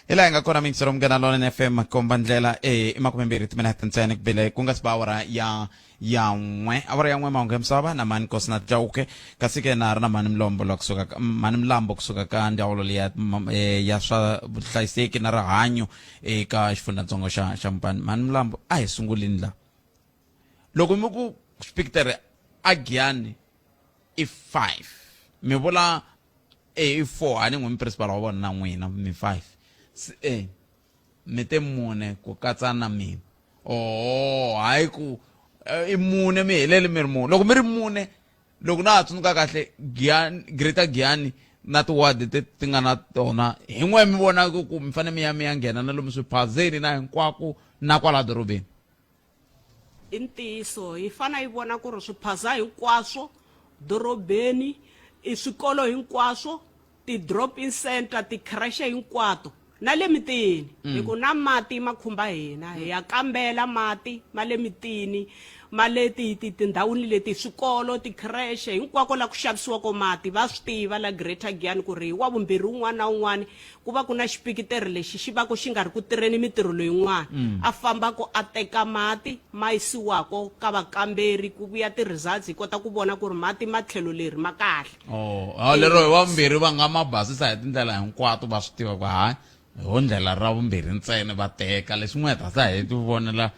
hi laha hi nga kona mintsi ro munghana lona fm komba ndlela e makume mbirhi timinete ntsena kubile ku nga si ba awara ya ya n'we awara ya n'we mahungu ya misava na mani kosi na jauke kasi ke na ha ri na mani milombo la kusuka ka- mani milambo kusuka ka ndzawulo leya ma- eh, ya swa vuhlayiseki na rihanyo eka xifundzatsongo xa xa mupani mani milambo a hi sungulini la loko mi ku spikitere a giyani i five mi vula e four a ni n'wi mi principal wa vona na n'wina mi five se e mi te mune ku katsa na mina oo oh, hayi ku eh, i mune mi helele mi ri mune loko mi ri mune loko na ha tsundzuka kahle giani greater giani na tiwadi ti ti nga na tona hi n'we mi vonaka ku mi fanele mi ya mi ya nghena na lomu swiphazeni na hinkwako na kwala dorobeni i ntiyiso hi fana yi vona ku ri swiphaza hinkwaswo dorobeni i swikolo hinkwaswo ti-drop in center ti-crashe hinkwato na le mitini mm. hi ku na mati ma khumba hina hi ya kambela mati ma le mitini ma le tindhawini leti swikolo ti-crashe hinkwako la ku xavisiwako mati va swi tiva la greater giani ku ri wa vumbirhi un'wana na un'wana ku va ku na xipikiteri lexi xi vako xi nga ri ku tirheni mitirho leyin'wana mm. a fambako a teka mati ma yisiwako ka vakamberi ku vuya ti-results hi kota ku vona ku ri mati ma tlhelo leri ma kahle oh, oh lero hi vambirhi va nga ma basisa hi tindlela hinkwato va swi tiva ku hayi ho ndlela ra vumbirhi ntsena va teka leswi n'wi hetasa hi ti vonela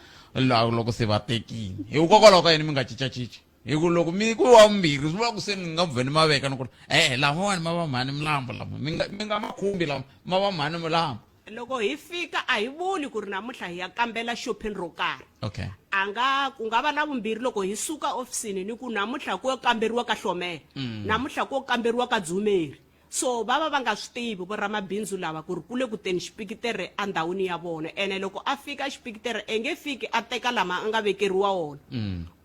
loko se va tekile hikokwalaho ka yini mi nga cincacinci hi ku loko mi ku wa vumbirhi swi vula ku se ni nga vhe ni ma veka ni ku e-e lamawani ma va mhani milambo lama mi nga mi nga ma khumbi lama ma va mhani milambo loko hi fika a hi vuli ku ri namuntlha hi ya kambela shopping ro karhi okay a nga ku nga va na vumbirhi loko hi suka ofisini ni ku namuntlha ku yo kamberiwa ka hlomela namuntlha ku yo kamberiwa ka dzumeri So va va va nga swi tivi voramabindzu lava ku ri ku le ku teni xipikitere endhawini ya vona ene loko a fika xipikitere a nge fiki a teka lama a nga vekeriwa wona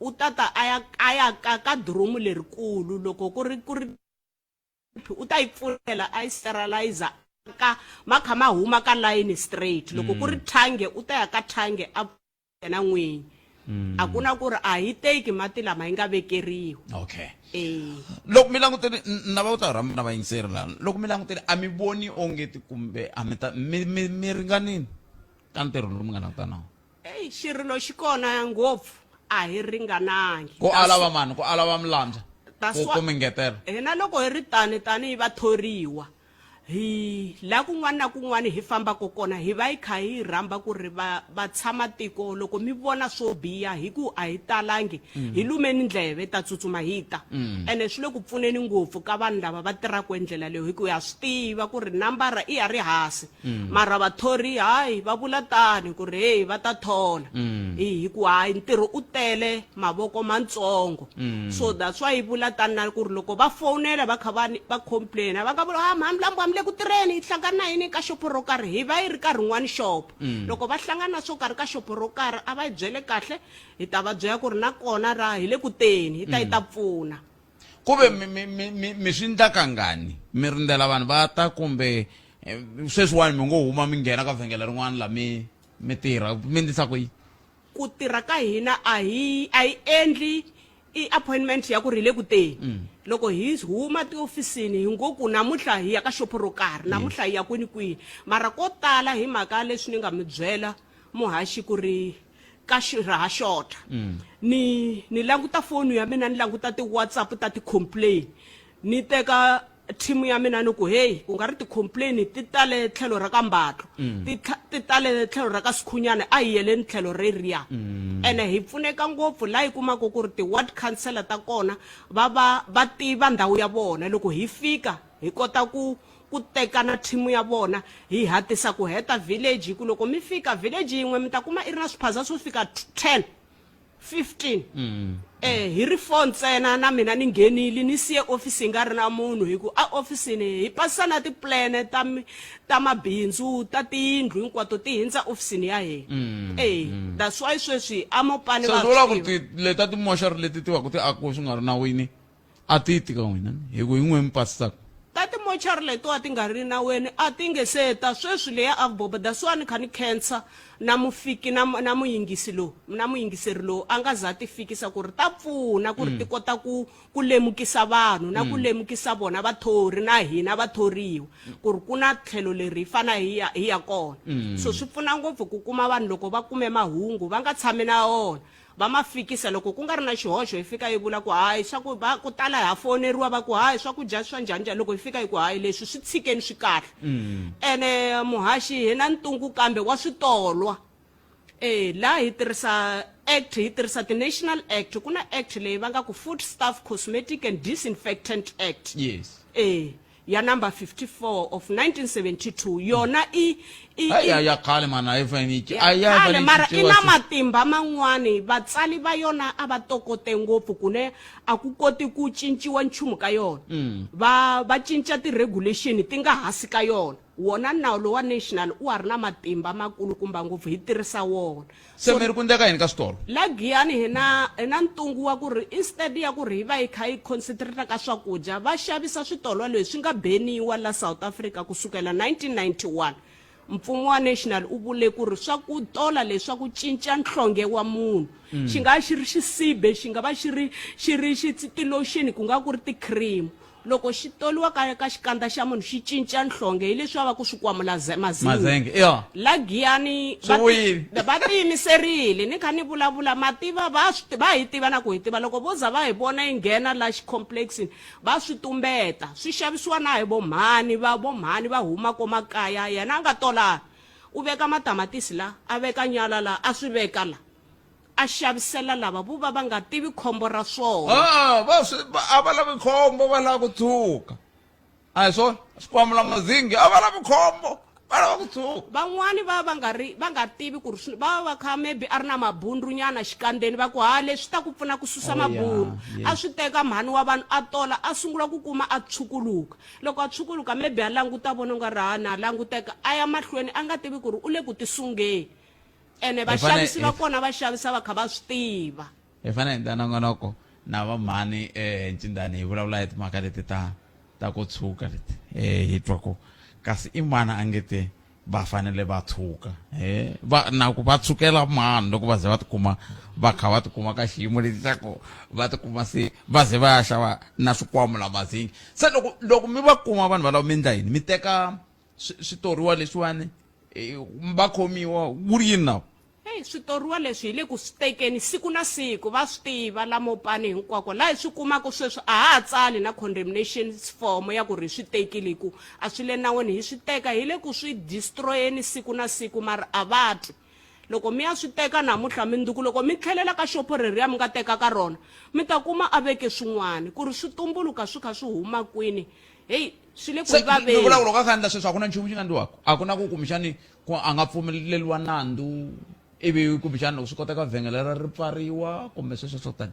u ta ta a ya a ya ka ka diromu lerikulu loko ku ri ku ri u ta yi pfulela a yi sterilizer ka ma kha ma huma ka layini straight loko ku ri thange u ta ya ka thange a yena n'winyi mm. a ku na ku ri a hi teki mati lama yi nga vekeriwa okay eh. loko mi langutele na va ku ta rhamba na vayingiseri lana loko mi langutele a mi voni onge ti kumbe a mi ta mi mi mi ringanini ka ntirho lowu mi nga langutana wo eyi xirilo xi kona ngopfu a hi ringanangi ku ala va mani ku ala va milandza ku mi ngetela hina loko hi ri tani tanihi vathoriwa hi la kun'wana na kun'wana hi fambako kona hi va hi kha hi rhamba ku ri va va tshama tiko loko mi vona swo biha hi ku a hi talangi mm. hi lumeni ndleve ta tsutsuma hi ta mm. ene swi le ku pfuneni ngopfu ka vanhu lava va tirhaka endlela leyo hi ku ya swi tiva ku ri nambara i ya ri hasi mm. mara vathori hayi va vula tani ku ri heyi va ta thola hi ku hayi ntirho u tele mavoko mantsongo so that's why yi vula tani na ku ri loko va fowunela va kha va ni- va complaina va nga vula ha mhani lambu hambi le ku tirheni hi hlangana na yini ka xopo ro karhi hi va yi ri ka rin'wani xopo loko va hlangana na swo karhi ka xopo ro karhi a va yi byele kahle hi ta va byela ku ri na kona ra hi le ku teni hi ta yi ta pfuna ku ve mi- mi- mi- mi mi swi ndla kangani mi rindzela vanhu va ta kumbe eh, sweswiwani mi ngo huma mi nghena ka vhengele rin'wana la mi mi tirha mi ndlisa ku yini ku tirha ka hina a hi a hi endli i appointment ya ku ri hi le ku teni mm. loko hi huma tiofisini hi ngo ku namuntlha hi ya ka xopo ro karhi namuntlha hi ya kwini kwihi mara ko tala hi mhaka leswi ni nga mi byela muhaxi ku ri ka raha xota mm. ni ni languta foni ya mina ni languta ti-whatsapp ta ti-complain ni teka team ya mina ni ku heyi u nga ri ti-complain ti tale tlhelo ra ka mbatlo mm. ti tlha- ti tale tlhelo ra ka sikhunyana a hi yeleni tlhelo reriya mm. ene hi pfuneka ngopfu laha hi kumaka ku ri ti-ward councilor ta kona va va va tiva ndhawu ya vona loko hi fika hi kota ku ku tekana thimu ya vona hi hatisa ku heta village hi ku loko mi fika village yin'we mi ta kuma i ri na swiphaza swo fika 10 15 mm. eh hi ri four ntsena na mina ni nghenile ni siye office yi nga ri na munhu hi ku a ofisini hi pasisa na tiplane ta ta mabindzu ta tiyindlu hinkwato ti hindza ofisini ya hina mm, eh mm. that's why sweswi amopane va vula ku ti leta timoxari leti ti va ku ti akiwe swi nga ri nawini a ti tika wena hi ku hi n'we mi pasaka ta timochari letiwa ti nga ri naweni a ti nge se ta sweswi leya avboba that's why ni kha ni khensa na mufiki na, na muyingisi lowu na muyingiseri lowu a nga za ti fikisa ku ri ta pfuna ku ri ti kota ku ku lemukisa vanhu na ku lemukisa vona vathori na hina vathoriwa ku ri ku na tlhelo leri hi fana hi ya hi ya kona so swi pfuna ngopfu ku kuma vanhu loko va kume mahungu va nga tshami na wona va ma fikisa loko ku nga ri na xihoxo hi fika hi vula ku hayi swa ku va ku tala ha foneriwa va ku hayi swakudya swa njhani njhani loko hi fika hi ku hayi leswi swi tshikeni swi kahle ene muhaxi hi na ntungu kambe wa switolwa e laha hi tirhisa act hi tirhisa ti-national act ku na act leyi va nga ku food staff cosmetic and disinfectant act yes e ya number 54 of 1972 yona i i- Ai, i- ai, ya khale mani a yi fanele yi ci- a yi khale fanele yi mara i cinciwa na sweswi. matimba man'wani vatsali va yona a va tokote ngopfu ku ne a ku koti ku cinciwa nchumu ka yona Mm. va va cinca ti-regulation ti nga hasi ka yona wona nawu lowa national u wa ri na matimba makulukumba ngopfu hi tirhisa wona se mi ri ku ndleka yini ka switolo la giyani hi na hi na ntungu wa ku ri instead ya ku ri hi va yi kha yi concentrata ka swakudya va xavisa switolo leswi nga beniwa la south africa ku sukela 1991 mfumo wa national u vule ku ri swa ku tola leswa ku cinca nhlonge wa munhu xi nga xi ri xisibe xi nga va xi ri xi ri xitsitiloxini ku nga ku ri ti-cream Loko xi toliwa ka ka xikandza xa munhu xi cinca nhlonge hi leswi va va ku swi kwamula ze- mazinyo. Mazenge, ya. La Giyani Swi va ti- vuyile. va tiyimiserile ni kha ni vulavula ma tiva va swi ti- va hi tiva na ku hi tiva loko vo za va hi vona yi nghena la xicomplex-ini va swi tumbeta swi xavisiwa na hi vo mhani va vo mhani va huma ko makaya yena a nga tola u veka matamatisi la a veka nyala la a swi veka la a xavisela lava vo va va nga tivi khombo ra swona Ah, va swi va- a va lavi khombo va lava ku tshuka a hi swona xikwambo la mazingi a va lavi khombo va lava ku tshuka van'wani va va nga ri va nga tivi ku ri swi- va va va kha maybe a ri na mabundrunyana xikandzeni va ku ha leswi ta ku pfuna ku susa Oh, yeah, mabundu yes. a swi teka mhani wa vanhu a tola a sungula ku kuma a tshukuluka loko a tshukuluka maybe a languta vona u nga ri ha na languteka a ya mahlweni a nga tivi ku ri u le ku tisungeni ene Hi fane- vaxavisi va hi- kona va xavisa va kha va swi tiva hi fane hi endla nongonoko na va mhani eh ncindani hi vulavula hi timhaka leti ta ta ku tshuka leti eh hi twa ku kasi i mani a nge te va fanele va tshuka eh va na ku va tshukela mani loko va ze va tikuma va kha va tikuma ka xiyimo lexi xa ku va tikuma se va ze va ya xava na swikwambu la mazingi se loko loko mi va kuma vanhu valavo mi endla yini mi teka swi- switoriwa leswiwani eh, va khomiwa wu ri yini nawu Hey, switoriwa leswi hi le ku swi tekeni siku na siku va swi tiva lamo pani hinkwako laha hi swi kumaka sweswi a ha ha tsali na condemnation form ya ku ri hi swi tekile hi ku a swi le nawini hi swi teka hi le ku swi destroyeni siku na siku mara a va twi loko mi ya swi teka namuntlha mindzuku loko mi tlhelela ka xopo reriya mi nga teka ka rona mi ta kuma a veke swin'wana ku ri swi tumbuluka swi kha swi huma kwini heyi swi le ku se vaveni lovulavula ka khandla sweswi a ku na nchumu xi nga ndliwaka a ku na ku kumbexani ku a nga pfumeleriwa nandzu ivi kumbexani loko swi koteka vhengele ra ri pfariwa kumbe sweswo swo tani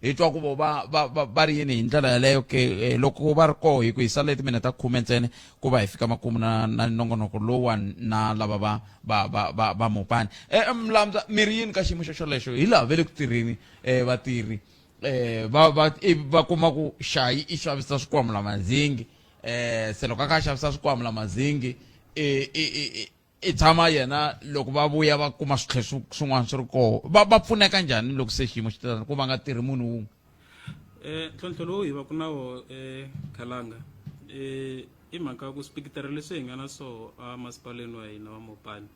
hi twa ku vo va va va va ri yini hi ndlela yaleyo ke eh, loko va ri koho hi ku hi sale timineta khume ntsene ku va hi fika makumu na na nongonoko lowuwani na lava va va va va va mopani eh, eh, mlamza mi ri yini ka xiyimo xo xolexo hi laha ve le ku tirheni eh, vatirhi eh, va va i- va kuma ku xayi i xavisa swikwamula mazingi eh, se loko a kha a xavisa swikwamula mazingi i- i- i- i- i tshama yena loko va vuya va kuma switlhe swin'wana swi ri koho va va pfuneka njhani loko se xiyimo xi titani ku va nga tirhi munhu wun'we um ntlhontlho lowu hi va ku na wo ekhalanga um i mhaka ya ku swipikitara leswi hi nga na swoho emasipaleni wa hina wa mopani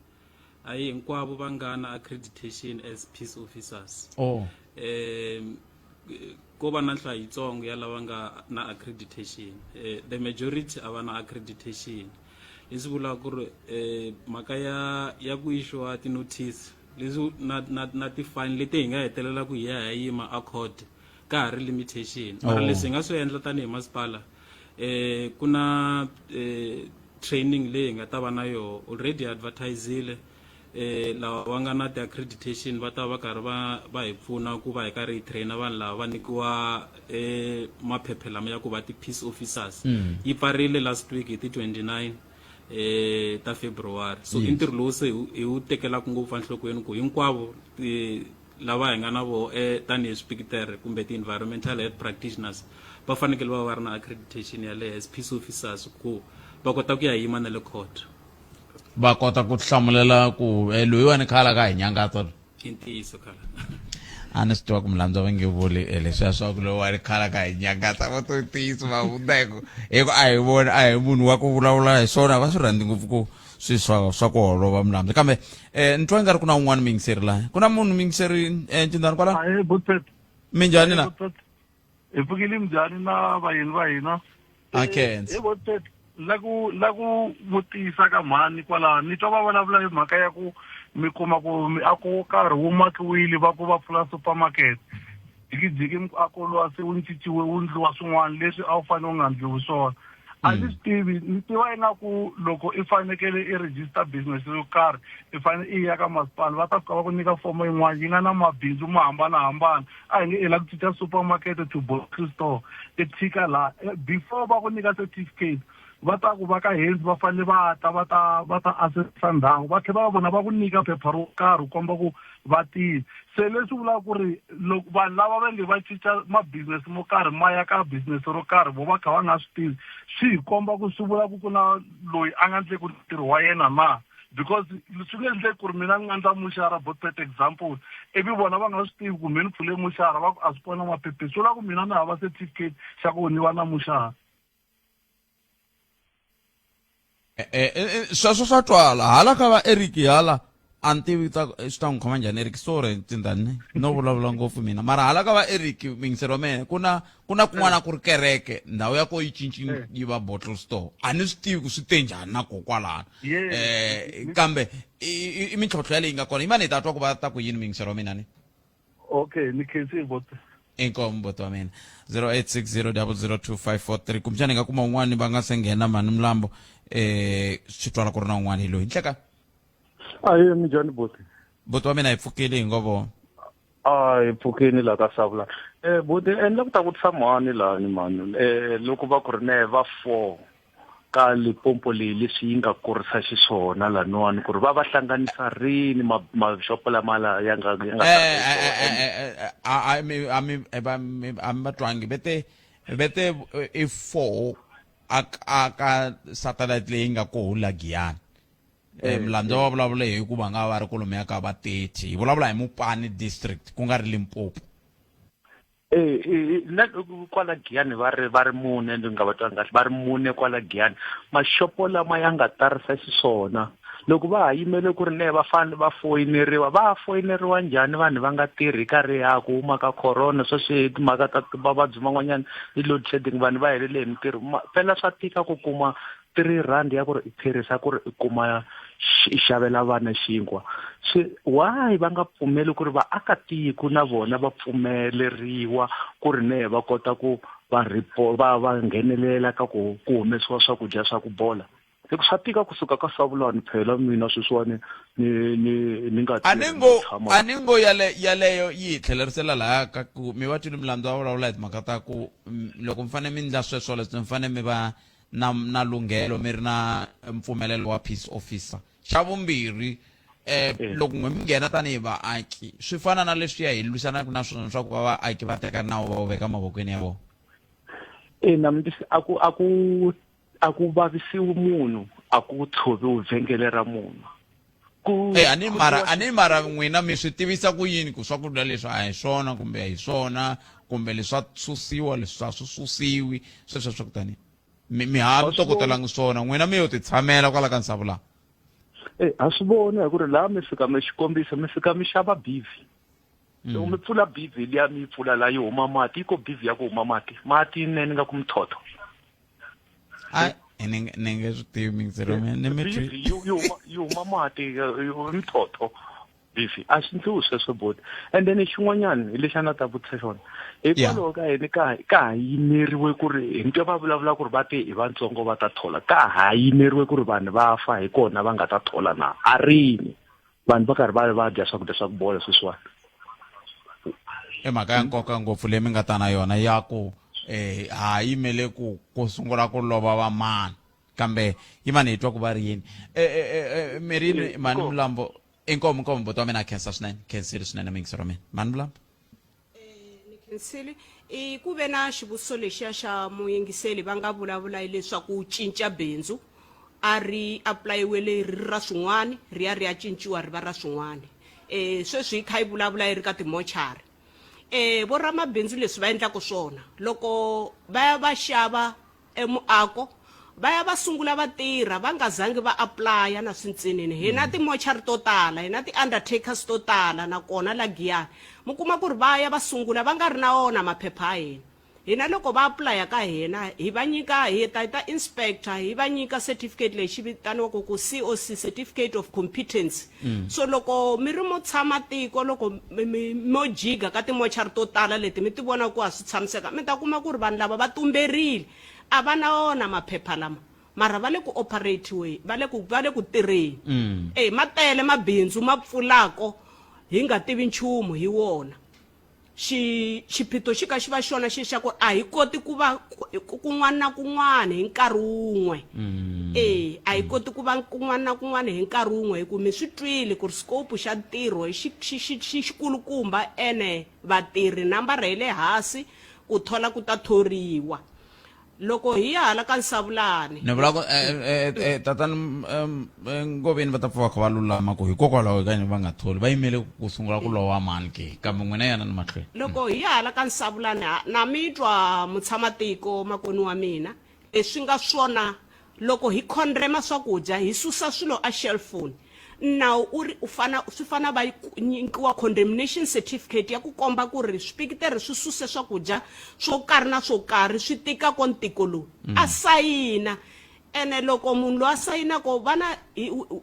a hi hinkwavo va nga na accreditation as peace officers oh. um ko va na nhlayo yitsongo ya lava nga na accreditation eh, the majority a va na accreditation leswi vulaka ku ri eh, mhaka ya ya ku ishiwa ti-notice leswi na, na, na ti-fine leti hi nga hetelela ku hi ya hi yima a court ka ha ri limitation mara oh. leswi hi nga swi endla tanihi masipala eh ku na eh, training leyi hi nga ta va na yona already advertisile eh, lava va nga na ti-accreditation va ta va karhi va va hi pfuna ku va hi karhi hi traina vanhu lava va nyikiwa eh, maphephe lama ya ku va ti-peace officers mm. yi pfarile last week hi ti-29 eh ta February so i ntirho lowu se hi wu tekelaka ngopfu enhlokweni ku hinkwavo lava hi nga na vo eh, tanihi swipikitere kumbe ti-environmental health practitioners va fanekele va va ri na accreditation ya le as peace officers ku va kota ku ya yima na le court va kota ku hlamulela ku eh, loyiwani khala ka hi nyangatsa i ntiyiso khala a ni swi tiva ku milandzu va nge vuli eh, leswiya swa ku loyi wa ri khala ka hi nyangatsa va to ntiyiso va hundza hi ku hi ku a hi vona a hi munhu wa ku vulavula hi swona va swi rhandzi ngopfu ku swi swa swa ku holova milandzu kambe um ni twa nga ri ku na un'wana mingiseri laha ku na munhu mingiseri um eh, cindani kwala minjhani na hi pfukile njhani na vayeni va hina Akhense. Eh, eh, eh, la ku la ku vutisa ka mhani kwalaho ni twa va vulavula hi mhaka ya ku mi kuma ku miako wo karhi wu makiwile va ku va pfula supermarket jikijiki miako lowa se wu ncinciwe wu ndliwa swin'wana leswi a wu fanele u nga ndliwi swona a ni swi tivi ni tiva ingaku loko i fanekele i register business yo karhi i fanele i ya ka masipala va ta fika va ku nyika fomo yin'wana yi nga na mabindzu mo hambanahambana a hi nge i la ku cinca supermarket to grocery store i tshika laha eh, before va ku nyika certificate va ta ku va ka henzi va fanele va ta va ta va ta assessa ndhawu va tlhela va vona va ku nyika phepha ro karhi u komba ku vatiyi se leswi vulaka ku ri loko vanhu lava va nge va cinca mabisinesi mo karhi ma ya ka bisinesi ro karhi vo va kha va nga swi tivi swi hi komba ku swi vula ku ku na loyi a nga ndleki ntirho wa yena na because swi nge endleki ku ri mina ni nga ndla muxara bo pet example ivi vona va nga swi tivi ku mi ni pfule muxara va ku a swi kona maphephe swi vula ku mina ni hava certificate xa ku ni va na muxara Eh, eh, eh, sweswo swa twala hala ka va eric hala a ni tivi ta swi ta n'wi khoma njhani eric sorry tindani no vulavula ngopfu mina mara hala ka va eric mingiselo mene ku na ku na kun'wana ku ri kereke ndhawu ya ko yi cinci yi va bottle store a ni swi tivi ku swi te njhani na kokwalana um kambe i mintlhontlho yaleyi nga kona yi mani hi ta twa ku va ta ku yini mingiselo wa mina ni okay ni khensi vote inkomu bhuti wa mina 0860002543 kumbexana hi nga kuma un'wana va nga se nghena mhani mlambo eh swi twala ku ri na un'wana hi loyi nhleka aye mi njhani boti bhuti wa mina hi pfukile hi ngo vo a hi pfukini laha ka savula um boti endla ku ta ku tshama ni lahani mhani um loko va ku ri ne va four ka lipompo leyi leswi yi nga kurisa xiswona laniwani ku ri va va hlanganisa rini maxopo lama la ya nga ya nga a mi va twangi vete vete i four a ka satellite leyi nga koho la giyani um eh, mlandza eh. va vulavule hi ku va nga va ri kolomo ya ka va thirty hi vulavula hi mupani district ku nga ri limpopo Eh, eh, na kwala giyani va ri va ri mune ndzi nga va twangi kahle va ri mune kwala giyani maxopo lama ya nga tarisa xiswona loko va ha yimele ku ri ne va fanele va foyineriwa va foyineriwa njhani vanhu va nga tirhi karhi ya ku huma ka corona sweswi timhaka ta mavabyi man'wanyana i load shedding vanhu va helele hi mintirho phela swa tika ku kuma three rand ya ku ri i tirhisa ku ri i kuma i xavela vana xinkwa se why va nga pfumeli ku ri vaakatiko na vona va pfumeleriwa ku ri ne va kota ku va repo va va nghenelela ka ku ku humesiwa swakudya swa ku bola hi ku swa tika kusuka ka savulani phela mina sweswiwani ni ni ni nga a ni ngo a ni ngo yale yaleyo yi hi tlhelerisela laha ka ku mi va twini milandzu va vulavula hi timhaka ta ku loko mi fanele mi ndla sweswo leswi mi fanele mi va na na lunghelo mi ri na mpfumelelo wa peace officer xa vumbirhi eh, eh. loko n'we mi nghena tanihi vaaki swi fana na leswi ya hi lwisanaka na swona leswaku va vaaki va teka nawu va wu veka mavokweni ya vona ina mi a ku a ku a ku vavisiwi munhu a ku tshoviwi vhengele ra munhu ku e a ni mara a ni mara n'wina mi swi tivisa ku yini ku swakudya leswi a hi swona kumbe a hi swona kumbe leswa susiwa leswi a swi susiwi sweswo swa ku tani mi mi ha mi tokotelangi swona n'wina mi yo ti tshamela kwala ka nsavu laha e a swi vona hi ku ri laha mi fika mi xikombiso mi fika mi xava bivi loko mi pfula bizi liya mi yi pfula laha yi huma mati yi ko bizi ya ku huma mati mati ne ni nga ku mithotho ni nge swi tivi mingiselo ni mi twi yi huma mati mithotho bizi a swi ndliwi sweswo boti and then xin'wanyana hi lexi a na ta vutisa xona hikwalaho ka yini ka ka ha yimeriwe ku ri hi ntwe va vulavula ku ri va te hi vatsongo va ta thola ka ha yimeriwe ku ri vanhu va fa hi kona va nga ta thola na a rini vanhu va karhi va va dya swakudya swa ku bola sweswiwani i mhaka ya nkoka ngopfu leyi mi nga ta na yona ya ku um eh, ha yimele ku ku sungula ku lova vamani kambe yi mani hi twa ku va ri yini e, e, e, mirini mani mulambo inkomu inkomu buti wa mina a khensa swinene khensile swinene mingisiro mina mani mulambo ni khensile i ku ve na xivutiso lexiya xa muyingiseli va nga vulavula hileswaku u cinca bindzu a ri apulayiwele ri ri ra swin'wana ri ya ri ya cinciwa ri va ra swin'wana um sweswi yi kha yi vulavula yi ri ka timochari um voramabindzu leswi va endlaka swona loko va ya va xava emuako va ya va sungula va tirha va nga zangi va aplaya na swintsinini hi na timochari to tala hi na ti-undertakers to tala nakona la giyani mi kuma ku ri va ya va sungula va nga ri na wona maphepha ya hina hina loko va aplaya ka hina hi va nyika hi ta hi ta inspector hi va nyika certificate lexi vitaniwaka ku coc certificate of competence mm. so loko mi ri mo tshama tiko loko mo jiga ka timochari to tala leti mi ti vona ku a swi tshamiseka mi ta kuma ku ri vanhu lava va tumberile a va na wona maphepha lama mara va le ku operatiwe va le ku va le ku tirheni mm. e ma tele mabindzu ma pfulako hi nga tivi nchumu hi wona xi xiphiqo xi ka xi va xona xi xa ku a hi koti ku va ku- kun'wana na kun'wana hi nkarhi wun'we e a hi koti ku va kun'wana na kun'wana hi nkarhi wun'we hi ku mi swi twile ku ri scope xa ntirho hi xi- xi- xi- xi- xikulukumba ene vatirhi nambara yi le hansi ku thola ku ta thoriwa loko hi ya hala ka nsavulani ni vula ku eh, eh, eh, eh, tatani mm, em, eh, ngoveni va ta pfa va kha va lulama ku hikokwalaho ka yini va nga tholi va yimele ku sungula ku lowa mani ke kambe n'wina yana ni mahlweni loko hi ya hala ka nsavulani ha- na mi twa mutshama tiko makoni wa mina leswi nga swona Loko hi khondrema swakudya, hi susa swilo a xelfoni. Nawu u ri u fana, swi fana va nyikiwa condemnation certificate ya ku komba ku ri swipikiteri swi suse swakudya swo karhi na swo karhi swi tika ko ntiko lowu. A sayina. Ene loko munhu loyi a sayinako va na,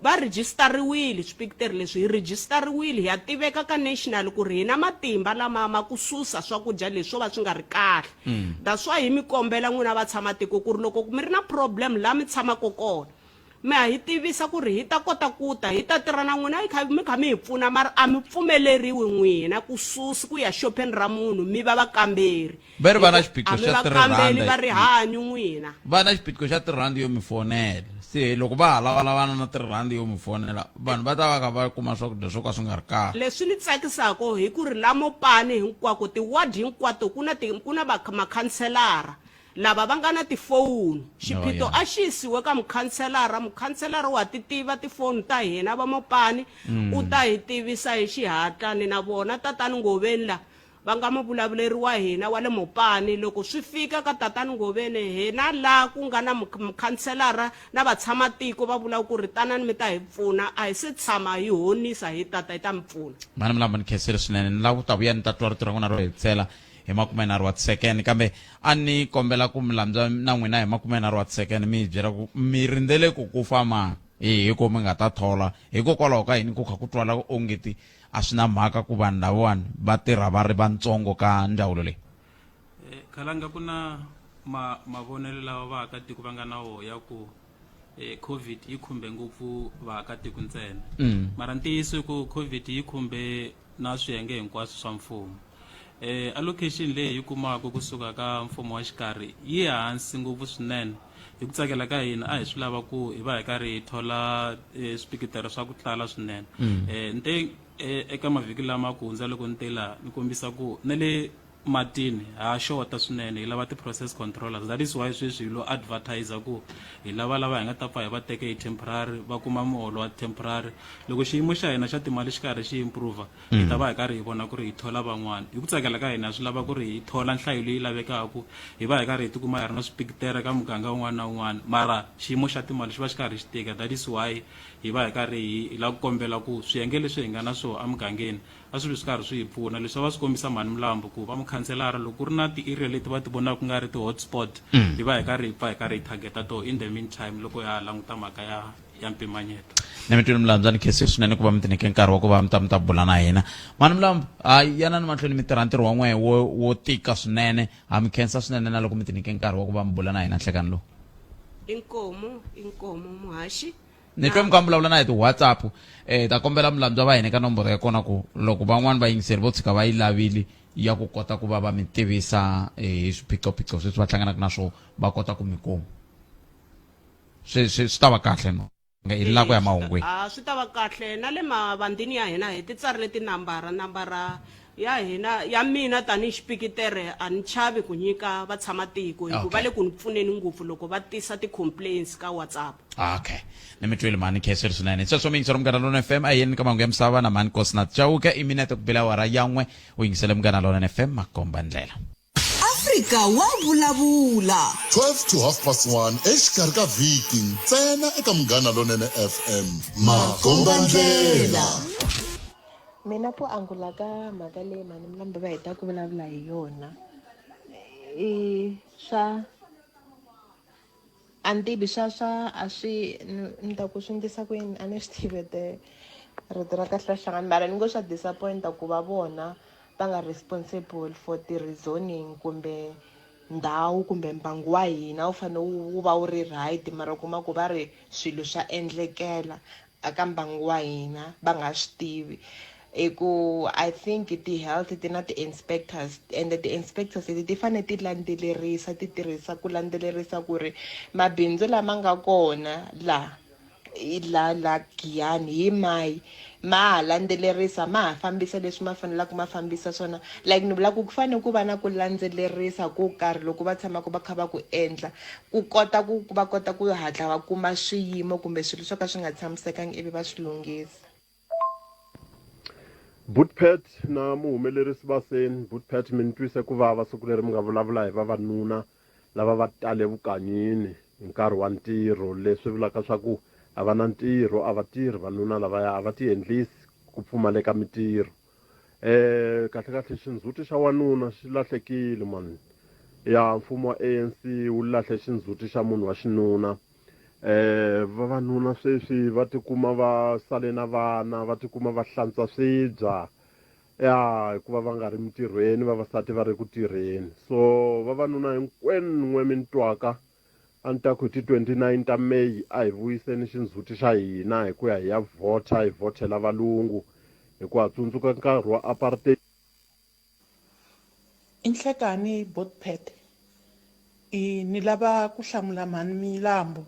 va rhijisitariwile swipikiteri leswi, hi rhijisitariwile, hi ya tiveka ka national ku ri hi na matimba lama ma ku susa swakudya leswi swo va swi nga ri kahle. mm. that's why hi mi kombela n'wina va tshama tiko ku ri loko mi ri na problem laha mi tshamaka kona mi ha hi tivisa ku ri hi ta kota ku ta hi ta tirha na n'wina hi kha mi kha mi hi pfuna mara a mi pfumeleriwi n'wina ku susi ku ya xopheni ra munhu mi va vakamberi va ri va na xiphiqo xa tirhivakambeli va rihanyo n'wina va na xiphiqo xa tirhandi yo mi fonela se loko va ha lavalavana na tirhandi yo mi fonela vanhu va ta va ka va kuma swakudya swo ka swi nga ri kahle leswi ni tsakisako hi ku ri la mopani hinkwako tiward hinkwato ku na ti- ku na va- makhanselara lava va nga na tifoni xiphiqo yeah. a xi yisiwe ka mukhanselara mukhanselara wa ti tiva tifoni ta hina va mopani u ta hi tivisa hi xihatla ni na vona tatani ngoveni la va nga muvulavuleri wa hina wa le Mopani loko swi fika ka Tatani Ngoveni hina la ku nga na mukhanselara na vatshama-tiko va vula ku ri tanani mi ta hi pfuna a hi se tshama hi honisa hi ta ta hi ta mi pfuna. Mhani Mlambo ni khensile swinene ni lava ku ta vuya ni ta twa rito ra n'wina ro hetisela hi makumenharhu wa tisekeni kambe a ni kombela ku mi lambya na n'wina hi makumenharhu wa tisekeni mi hi byela ku mi rindzele ku ku fama hi hi ko mi nga ta thola hikokwalaho ka yini ku kha ku twala ongeti A swi na mhaka ku vanhu lavawani va tirha va ri vantsongo ka ndzawulo leyi. Khalanga ku na ma mavonelo lawa vaakatiko va nga na wo ya ku Covid yi khumbe ngopfu vaakatiko ntsena mara ntiyiso i ku Covid yi khumbe na swiyenge hinkwaswo swa mfumo. Allocation leyi hi yi kumaka kusuka ka mfumo wa xikarhi yi hansi ngopfu swinene. Hi ku tsakela ka hina a hi swi lava ku hi va hi karhi hi thola e, swipikitero swa ku tala swinene mm. e, ni te e, eka mavhiki lama ku hundza loko ni te laha ni kombisa ku na le matini ha xota swinene hi lava ti-process controllers that is why sweswi hi lo advertise ku hi lava lava hi nga ta pfa hi va teke hi temporary va kuma muholo wa temporary loko xiyimo xa hina xa timali xi karhi xi improva hi ta va hi karhi hi vona ku ri hi thola van'wana hi ku tsakela ka hina swi lava ku ri hi thola nhlayo leyi lavekaka hi va hi karhi hi tikuma hi ri na swipikitere ka muganga un'wana na un'wana mara xiyimo xa timali xi va xi karhi xi tika that is why hi va hi karhi hi hi lava ku kombela ku swiyenge leswi hi nga na swona emugangeni a swi vi swi karhi swi hi pfuna leswi a va swi kombisa mhani milambo ku va mukhanselara loko ku ri na ti-area leti va ti vonaka ku nga ri ti-hotspot hi va hi karhi hi pfa hi karhi hi targeta to in the meantime loko ya ha languta mhaka ya ya mpimanyeto na mi twini milandza ni khese swinene ku va mi tineke nkarhi wa ku va mi ta mi ta bula na hina mani milambu hayi yanani mahlweni mi tirha ntirho wa n'we wo wo tika swinene ha mi khensa swinene na loko mi tineke nkarhi wa ku va mi bula na hina nhlekani lowu inkomo inkomo muhaxi ni twe mi ka mi vulavula na hi ti-whatsapp um ta kombela milandza va hina ka nomboro ya kona ku loko van'wani vayingiseri vo tshuka va yi lavile ya ku kota ku va va mi tivisa eh, hi swiphiqophiqo sweswi va hlanganaka na swona va kota ku mi kuma swi swi swi ta va kahle no hi lako ya mahungwini a swi ta va kahle na le mavandini ya hina hi ti tsarile tinambara nambara ya hina ya mina tanihi xipikitere a ni chavi ku nyika vatshamamatiko hikuva va le ku ni pfuneni ngopfu loko va tisa ti-complaints ka whatsapp okay ni mi twile mhani kheseri swinene hi sweswo miyingiselo munghana lona f m a yeni ka mahungu ya misava na mhani kosinath chauke i minete ku bela wara yan'we u yingisele munghana lona f m makomba ndlela Afrika wa vulavula. 12 to half past 1 exikarhi ka vhiki ntsena eka munghana lonene fm makombandlela mina ku angula ka mhaka leyi mhani milambe va heta ku vulavula hi yona i swa A ni tivi swa swa a swi ni ni ta ku swi ndlisa ku yini a ni swi tivi ete rito ra kahle ra hlangana mara ni ngo swa disappoint-a ku va vona va nga responsible for ti-reasoning kumbe ndhawu kumbe mbangu wa hina wu fane wu wu va wu ri right mara u kuma ku va ri swilo swa endlekela aka mbangu wa hina va nga swi tivi i ku i think ti-health ti na ti-inspectors ende ti-inspectors leti ti fanele ti landzelerisa ti tirhisa ku landzelerisa ku ri mabindzu lama nga kona laha la la giyani hi mayi ma ha landzelerisa ma ha fambisa leswi ma fanelaka ma fambisa swona like ni vula ku ku fanele ku va na ku landzelerisa ko karhi loko va tshamaka va kha va ku endla ku kota ku va kota ku hatla va kuma swiyimo kumbe swilo swo ka swi nga tshamisekangi ivi va swi lunghisa butpet na muhumelerisi va se butpet mi ni twise ku vava siku leri mi nga vulavula hi vavanuna lava va tale vukanyini hi nkarhi wa ntirho leswi vulaka swa ku a va na ntirho a va tirhi vanuna lavaya a va tiendlisi ku pfumaleka mitirho eh kahle kahle xindzhuti xa wanuna xi lahlekile mani ya mfumo wa anc wu lahle xindzhuti xa munhu wa xinuna eh vavanuna sweswi va tikuma va sale na vana va tikuma va hlantswa swibya ya hikuva va nga ri mintirhweni vavasati va ri ku tirheni so vavanuna hinkwenu n'we mi ni twaka A ni ta ku hi ti 29 ta May a hi vuyiseni xindzhuti xa hina hi ku ya hi ya vhota, hi vhothela valungu hikuva ha tsundzuka nkarhi wa apartheid. Inhlekani Botphet i ni lava ku hlamula mhani Mlambo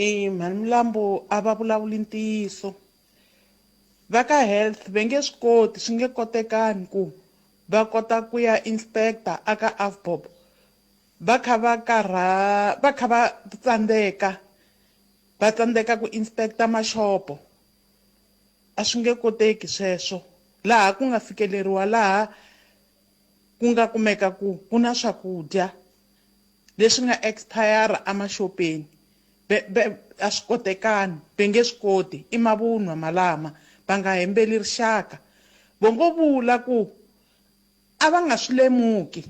i mhani Mlambo a va vulavuli ntiyiso va ka health ve nge swi koti swi nge kotekani ku va kota ku ya inspector a ka Avbob Va kha va karha va kha va tsandzeka va tsandzeka ku inspector maxopo a swi nge koteki sweswo laha ku nga fikeleriwa laha ku nga kumeka ku ku na swakudya leswi nga expire a maxopeni a swi kotekani ve nge swi koti i mavunwa malama va nga hembeli rixaka vo ngo vula ku a va nga swi lemuki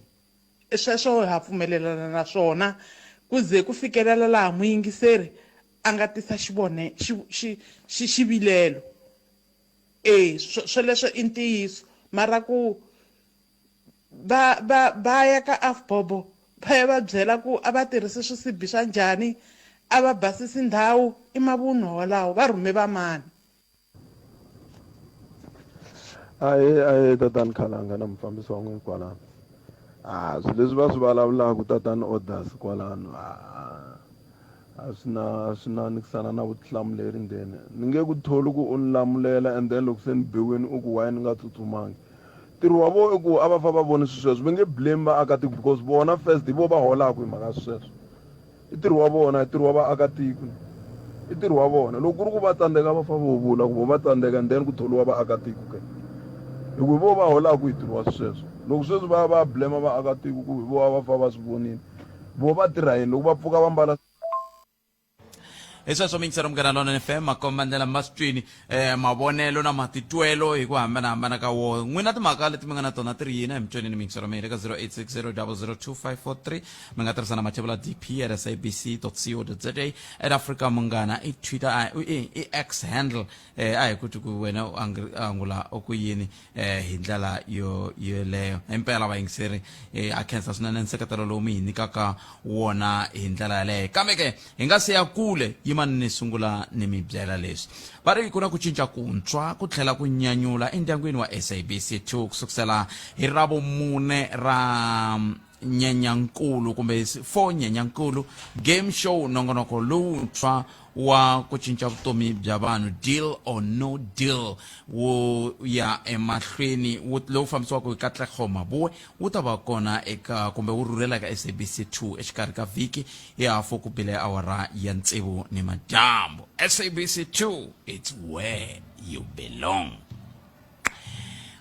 Sweswo ha pfumelelana na swona ku ze ku fikelela laha muyingiseri a nga tisa xivone, xi, xi, xi, xivilelo. E, swo, swoleswo i ntiyiso. Mara ku va, va, va ya ka Afbobo va ya va byela ku a va tirhisi swisibi swa njhani, a va basisi ndhawu, i mavunwa walawo. Va rhume vamani? a hi a hi tatani khalanga na mufambisi wa n'wini kwalano a ah, swilo leswi va swi vulavulaka tatani orders kwalano a ah, a swi na a swi na nikisana na vutihlamuleri ndzeni ni nge ku tholi ku u ni lamulela and then loko se ni biwini u ku waye ni nga tsutsumangi ntirho wa vona i ku a va fa va voni swi sweswo va nge blame vaakatiko because vona first hi vo va holaka hi mhaka swi sweswo I ntirho wa vona, i ntirho wa vaakatiko, i ntirho wa vona. Loko ku ri ku va tsandzeka va fa vo vula ku vo va tsandzeka and then ku tholiwa vaakatiko ke. Hi ku hi vo va holaku hi ntirho wa swisweswo. Loko sweswi va ya va ya blame vaakatiko ku hi vo a va fa va swi vonile, vo va tirha yini loko va pfuka va mbala Hi sweswo mintsheramukela Lonene FM makombandlela ma swi twini. um mavonelo na matitwelo hi ku hambanahambana ka wona n'wina timhaka leti mi nga na tona ti ri yini hi mitsonini mintshwa ra mina eka 0860002543 mi nga tirhisa na mathevula dp at sabc co za at africa munghana i twitter i x handle um a hi ku ti ku wena u angula ku yini eh hi ndlela yo yoleyo impela vayingiseri eh, a khensa swinene nseketelo lowu mi hi nyikaka wona hi ndlela yaleyo kambe ke hi nga se ya kule yimani ni sungula ni mi byela leswi va ri ku na ku cinca kuntswa ku tlhela ku nyanyula endyangwini wa sabc 2 ku sukusela hi ravumune ra nyenyankulu kumbe for nyenyankulu game show nongonoko lowuntshwa wa ku cinca vutomi bya vanhu deal or no deal wu ya emahlweni lowu fambisiwaka hi katlego mabuwe wu ta va kona eka kumbe wu rhurhela eka sabc 2 exikarhi ka vhiki hi hafu ku bile awara ya ntsevu ni madyambu sabc 2 its where you belong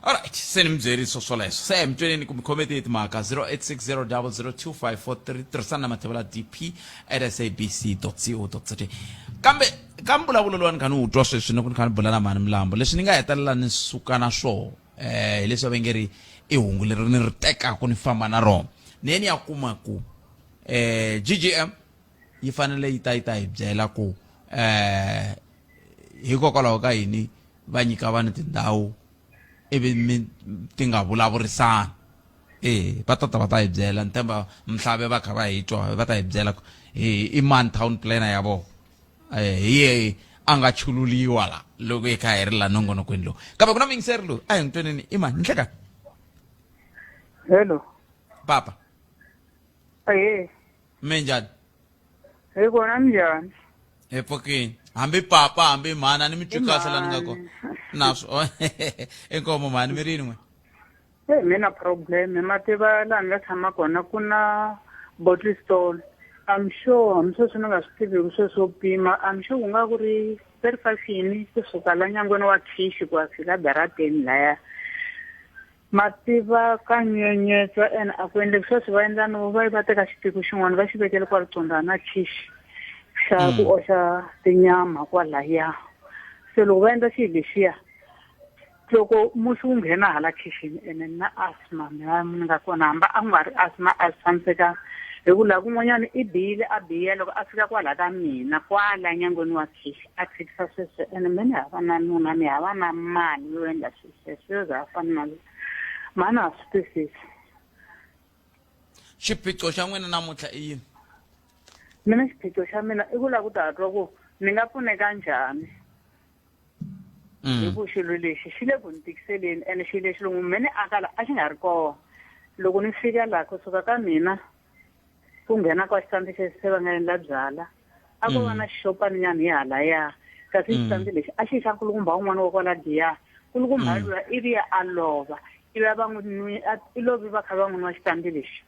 alright se ni mi byeriso swoleswo se hi mi tweneni ku mi khomete hi timhaka 0860002543 tirhisana na mathevela dp at sabc co za kambe ka mbulavulo lowa ni kha ni wu twa sweswi ni ku ni kha ni bula na mhani milambo leswi ni nga hetelela ni suka na swona eh hileswi va nge ri i hungu leri ni ri tekaka ni famba na rona ni ye ni ya kuma ku eh ggm yi fanele yi ta yi ta hi byela ku eh hikokwalaho ka yini va nyika vanhu tindhawu ivi mi ti nga vulavurisani eh va ta ta va ta hi byela ni tshemba mhlave va kha va hi twa va ta hi byela ku hi i mani town planner ya vona eh hi yehe a nga chululiwa la loko hi kha hi ri la nongonokweni lowu kambe ku na muyingiseri loyi a hi n'wi tweneni i mani nhleka hello papa ehe mi njhani hi kona ni njhani hi pfukini hambi papa hambi mhana ni mi twi kahle la ni nga kona naswo inkomo mhani mi ri yin'we e mi na problem ma tiva laha ni nga tshama kona ku na bottle stall i'm sure hambi sweswi ni nga swi tiviki sweswo pima i'm sure ku nga ku ri thirty five yini kusuka la nyangweni wa thishi ku ya fika darateni laya mativa ka nyenyetswa ene a ku endleki sweswi va endla no va va teka xiphiku xin'wana va xi vekele kwa riconda na khixi xa hmm. ku oxa tinyama kwalaya se loko va endla xihi lexiya loko musi wu nghena hala khixini ene na asma mi va mi nga kona hamba a ku nga ri asma a swi tshamisekanga hi ku laha kun'wanyana i biyile a biya loko a fika kwala ka mina kwala nyangweni wa khixi a tshikisa sweswo ene mi ni hava na nuna mi hava na mali yo endla sweswi Yes, sir, za fana na loko. Mhani ha swi twisisi. xiphiqo xa n'wina namuntlha i yini Mina xiphiqo xa mina i ku lava ku ta twa ku ni nga pfuneka njhani. Mm. Hi ku xilo lexi xi le ku ni tikiseleni ene xilo lexi loko me ni aka la a xi nga ri kona. Loko ni fika laha kusuka ka mina ku nghena kwa xitandi xexi se va nga endla byala a ko va na mm. xixopaninyana hi halaya kasi mm. xitandi lexi a xi xa nkulukumba wun'wana wa kwala diya nkulukumba mm. lula ivi ya a lova ivi a va n'wi nwi i lovi va kha va n'wi nwa xitandi lexi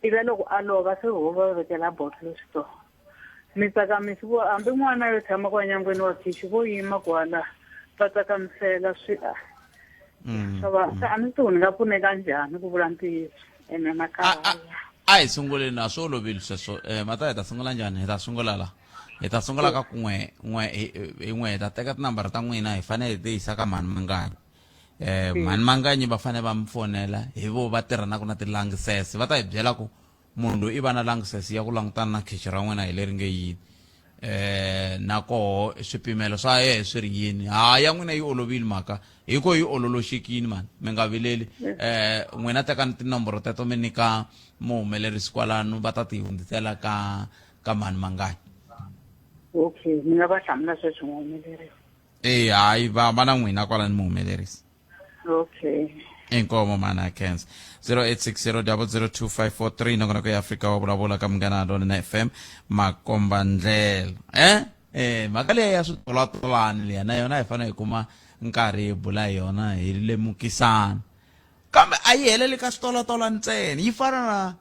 ivi a loko a lova se ho va vekela botlolo switoko mi tsakamisi vo hambi n'wana yo tshama kwa nyangweni wa khixi vo yima kwala va tsakamisela swi a mm. swa va mm. a ni tiku ni nga pfuneka njhani ku vula ntiyiso ene makaya a hi sunguleni a swi olovile sweswo um eh, mata hi ta sungula njhani hi ta sungula la hi ta sungula ka ku n'we n'we hi n'we hi ta teka tinambara ta n'wina hi fanele hi tiyisa ka mhani manganyi um mhani manganyi va fanele va mi fonela hi vo va tirhanaka na tilangisese va ta hi byela ku munhu loyi i va na langsesi ya ku langutana na khichi ra n'wina hi leri nge yini eh na koho swipimelo swa yehe swi ri yini ha ya n'wina yi olovile mhaka hi ko yi ololoxekini mani mi nga vileli eh n'wina tekani tinomboro teto mi nyika muhumelerisi kwalano va ta ti hundzisela ka ka mani mangani okay mi nga va hlamula sweswi muhumelerisi eh hayi va va na n'wina kwalani muhumelerisi okay inkomo mana cans 0860002543 nongona kwi africa wa vulavula ka munghana lonene fm makomba ndlela eh eh mhaka leyi ya switolatolani leya na yona hi fanele hi kuma nkarhi hi bula hi yona hi lemukisana kambe a yi heleli ka switolatolani ntsena yi fana na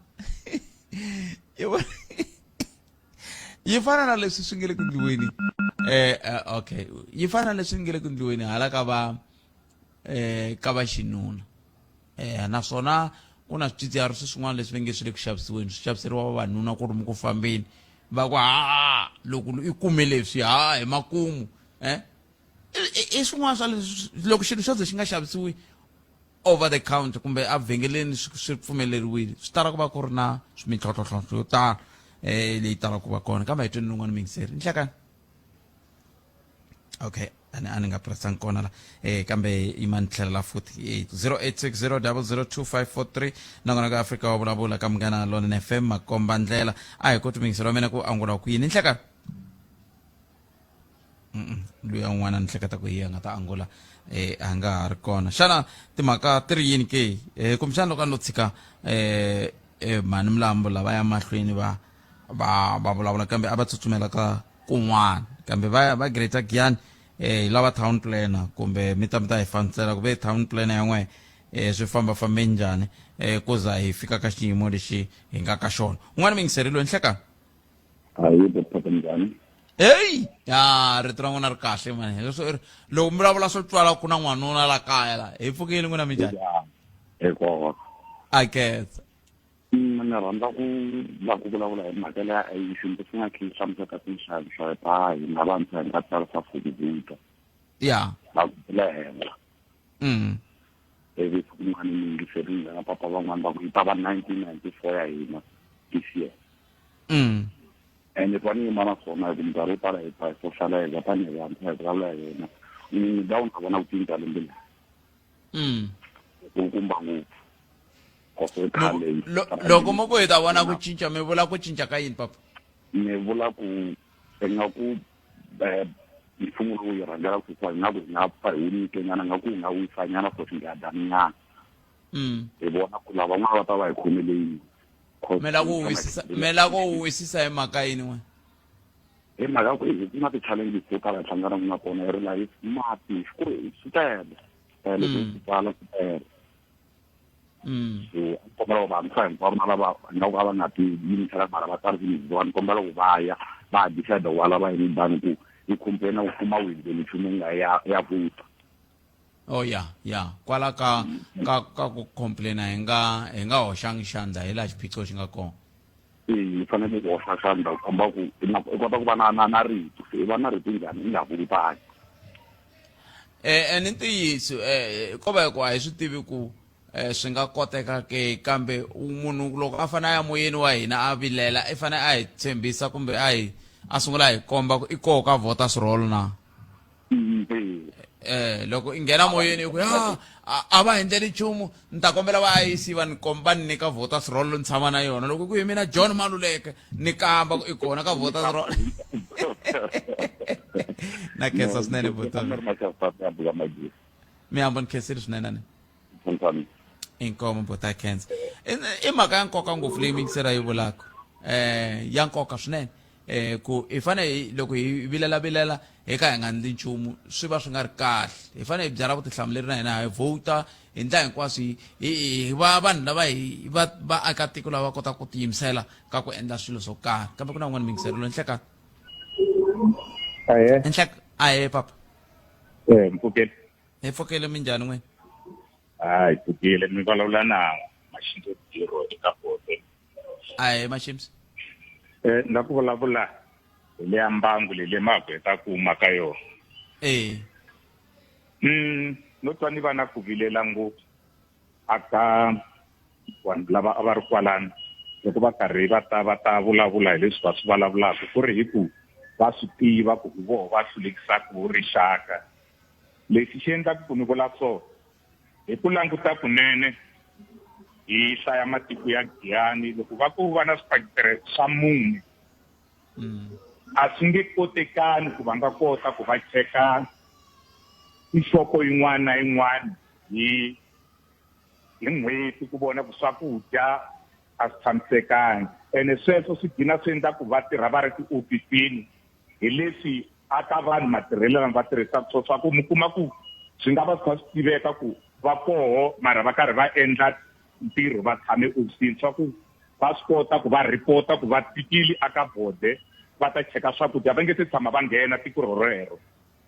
yi fana na leswi swi nge le ku ndliweni eh, eh okay yi fana na leswi nge le ku ndliweni hala ka va eh ka va xinuna eh naswona ku na swidzidziharisi swin'wana leswi va nge swi le ku xavisiweni swi xaviseriwa vavanuna ku ri mi ku fambeni va ku ha loko i kume leswi ha hi makumu eh i swin'wana swa leswi loko xilo xo ze xi nga xavisiwi over the counter kumbe evhengeleni swi swi pfumeleriwile swi tala ku va ku ri na mintlhontlhotlhontlho yo tala um leyi talaka ku va kona kambe hi tweni lowun'wana mingiseri nhlekani okay ani a ni nga pressanga kona la um kambe yi ma ni tlhelela futhi eight zero eight six zero double zero two five four three nakona ka afrika wa vulavula ka munghana lona fm makomba ndlela a hi koti mingiseri wa mina ku angula ku yini nhlekani loyi an'wana ni hleketa ku hi a nga ta angula eh a nga ha ri kona xana timhaka ti ri yini ke eh kumbexana loko a no tshika eh eh mhani milambo lava ya mahlweni va va va vulavula kambe a va tsutsumela ka kun'wana kambe va ya va greater giyani eh lava town planner kumbe mi ta mi ta hi fanisela ku ve town planner ya n'wehe eh swi famba fambe njhani eh ku za hi fika ka xiyimo lexi hi nga ka xona un'wana mi yingiserile nhlekani hayi baphatha njhani heyi ya rito ra n'wina ri kahle mani leswo ri- loko mi vulavula swo twala ku na n'wanuna la kaya la hi pfukile n'wina mi njhani hikuva a ketsa Mm, ni rhandza ku la ku vulavula hi mhaka leya i xintu swi nga khe hlamuseta tinxavi swa ta hina vantshwa hi nga tsarisa fukuvika ya va ku le henhla mm. ivi siku rin'wana ni yingiserile na papa van'wana va ku yi ta va nineteen ninety four ya hina this year mm. and if vanenge mara khona ku minkarhi yo tala hi pha hi sohlalayeka tanihi vantshwa hi vulavula hi yena ni dawu ni ka vona ku cinca lembe leri mm. ku kumba ngopfu loko mo ku hi ta vona ku cinca mi vula ku cinca ka yini papa ni vula ku ingaku eh, mfumo lowu yi rhangela ku sisa ingaku hi nga pfa hi wu nyikenyana ingaku hi nga wisanyana for xingadaninyana mm. hi vona ku lava n'wana va ta va hi khomele yini mi la ku wisisa hi mhaka yini n'we hi mhaka ku hi ku na ti-challenges to tala hi hlanganaka na tona hi ri lahi mati ku ri swi tele tele ku swi tala swi tele so a kombela ku vantshwa hinkwavo na lava nga ku a va nga ti yimisela mara va tsari kumiziwa ni kombela ku va ya va ha decide ku va lava yini dani ku yi complaina ku kuma windeni nchumu nga ya ya vuta oh ya ya kwala ka ka ka ku complaina hi nga hi nga hoxangi xandla hi laha xiphiqo xi nga kona hi fanele ku hoxa xandla ku komba ku i na- i kota ku va na na na rito se i va na rito njhani i nga vulutangi Eh, eh, ni ntiyiso eh, ko va ku a hi swi tivi ku eh, swi nga koteka ke kambe u- munhu loko a fanele a ya moyeni wa hina a vilela i fanele a hi tshembisa kumbe a hi a sungula a hi komba ku i koho ka vota swirholo na eh loko i nghena moyeni i ku ya a va endleli nchumu ni ta kombela va ayisi va ni komba ni nyika voters roll ni tshama na yona loko ku hi mina john maluleke ni kamba i kona ka voters roll na khensa swinene vutomi mi hamba ni khensile swinene ni inkomo bota khensa i mhaka ya nkoka ngopfu leyi mingisera yi vulaka um ya nkoka swinene um ku hi fanele hi loko hi vilelavilela hi ka hi nga ndli nchumu swi va swi nga ri kahle hi fanele hi byala vutihlamuleri na hina hi vhota hi ndla hinkwaswo hi va vanhu lava hi va vaakatiko lava va kotaka ku tiyimisela ka ku endla swilo swo karhi kambe ku na un'wana mingiselelo enhleka enhleka ahe papa eh, mpfukeli hi pfukeli minjhani n'wini hayi pfukile mi vulavula na maxinto diro eka bote ahe mashims um eh, la ku vulavula hi leya mbangu leyi le magweta ku huma ka yona e um no twa ni va na ku vilela ngopfu aka vanhu lava a va ri kwalani loko va karhi va ta va ta vulavula hi leswi va swi vulavulaka ku ri hi ku va swi tiva ku hi voho va hlulekisaka vo rixaka lexi xi endlaka ku ni vula so Hi ku languta kunene hi hlaya matiko ya Giyani loko va ku va na swiphakitire swa mune mm. a swi nge kotekani ku va nga kota ku va cheka nhloko yin'wana na yin'wana hi hi n'hweti ku vona ku swakudya a swi tshamisekangi ene sweswo swi gina swi endla ku va tirha va ri tiofisini hi leswi a ka vanhu matirhelo lama va tirhisaka swo swa ku mi kuma ku swi nga va swi kha swi tiveka ku va koho mara va karhi va endla ntirho va tshame ofisini swa ku va swi kota ku va report-a ku va tikile aka bode va ta cheka swakudya va nge se tshama va nghena tiko rorero